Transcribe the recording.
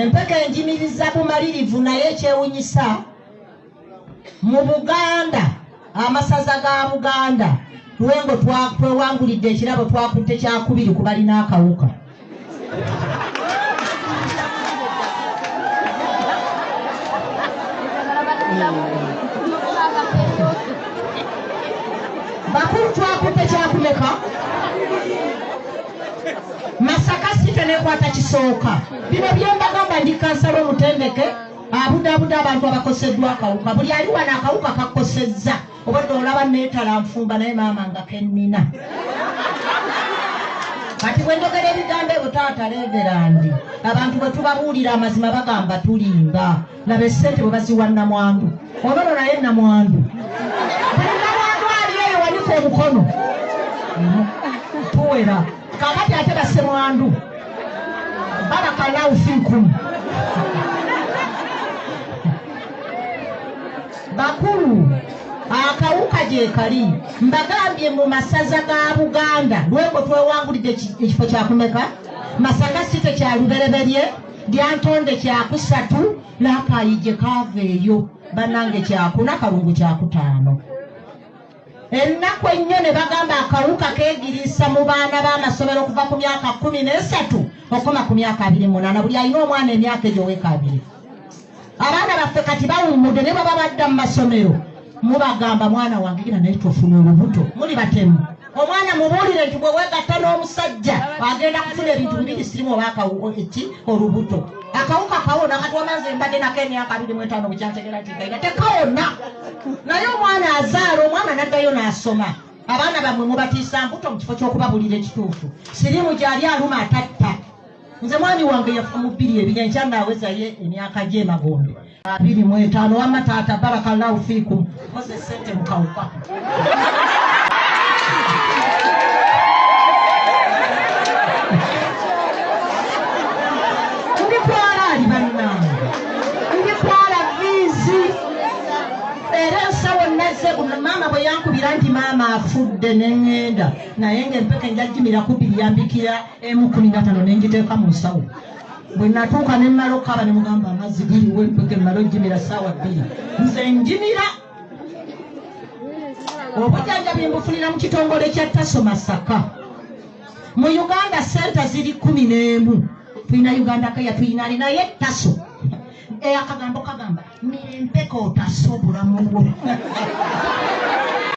empeke enjimiriza bumalirivu naye ekyewunyisa mu buganda amasaza ga buganda lwengo twewangulidde ekirabo twakutte kyakubiri ku balina akawuka bakulu twakutte kyakumeka masaka site nekwata kisooka bino byembagamba ndi kansala omutendeke abudabuda abantu abakoseddwa akawuka buli ali wano akawuka kakosezza obadde olaba netala nfumba naye maama nga kennina kati bwendogera ebigambo ebyo taata leegerandi abantu bwetubabuulira amazima bagamba tulimba laba esente bwe baziwa namwandu ololo naye namwandu buli namwandu ali eyo wanika omukono tuwera kakati ate basemwandu balakalaufinku bakulu akawuka gyekali mbagambye mu masaza ga buganda lweko twewangulidde ekifo kyakumeka masaka si tekyalubereberye lyantonde kyakusatu nakayije kaava eyo banange kyakuna kalungu kyakutaano ennaku ennyo ne bagamba akawuka kegiriisa mu baana b'amasomero okuva ku myaka kumi n'esatu okoma ku myaka abiri munaana buli alina omwana emyaka egyo weka abiri abaana baffe kati bawummude ne baba badda mu masomero mubagamba mwana wange gina naye tofuna olubuto muli batemu omwana mubuulire nti bwe wegatta n'omusajja agenda kufuna ebintu bibiri sirimu oba eki olubuto akawuka kawona kati wamaze mbadde nako emyaka abiri mu etaano bukyantegera tigaira tekawona naye omwana azaala omwana naddayo n'asoma abaana bamwe mubatiisa mbuto mu kifo ky'okubabulira ekituufu sirimu gyali aluma atatta nze mwami wange yafa mu bbiri ebiri enkya naawezayo emyaka gye emagombe abiri mu etaano wamma taata barakallahu fiikum koze sente mukawuka maama bwe yankubira nti maama afudde ne ŋŋenda naye ng'empeke njajjimira kubiri yambikira emu kumi na tano nengiteeka mu nsawo bwe natuuka ne mmala okukaaba ne mugamba amazzi galiwo empeke mmala ojjimira ssaawa bbiri nze njimira obujanjabi mbufunira mu kitongole kya taso masaka mu uganda sente ziri kumi n'emu tulina uganda kaya tuyinani naye taso eh, akagambo kagamba mirempeka otaso obulamu bwo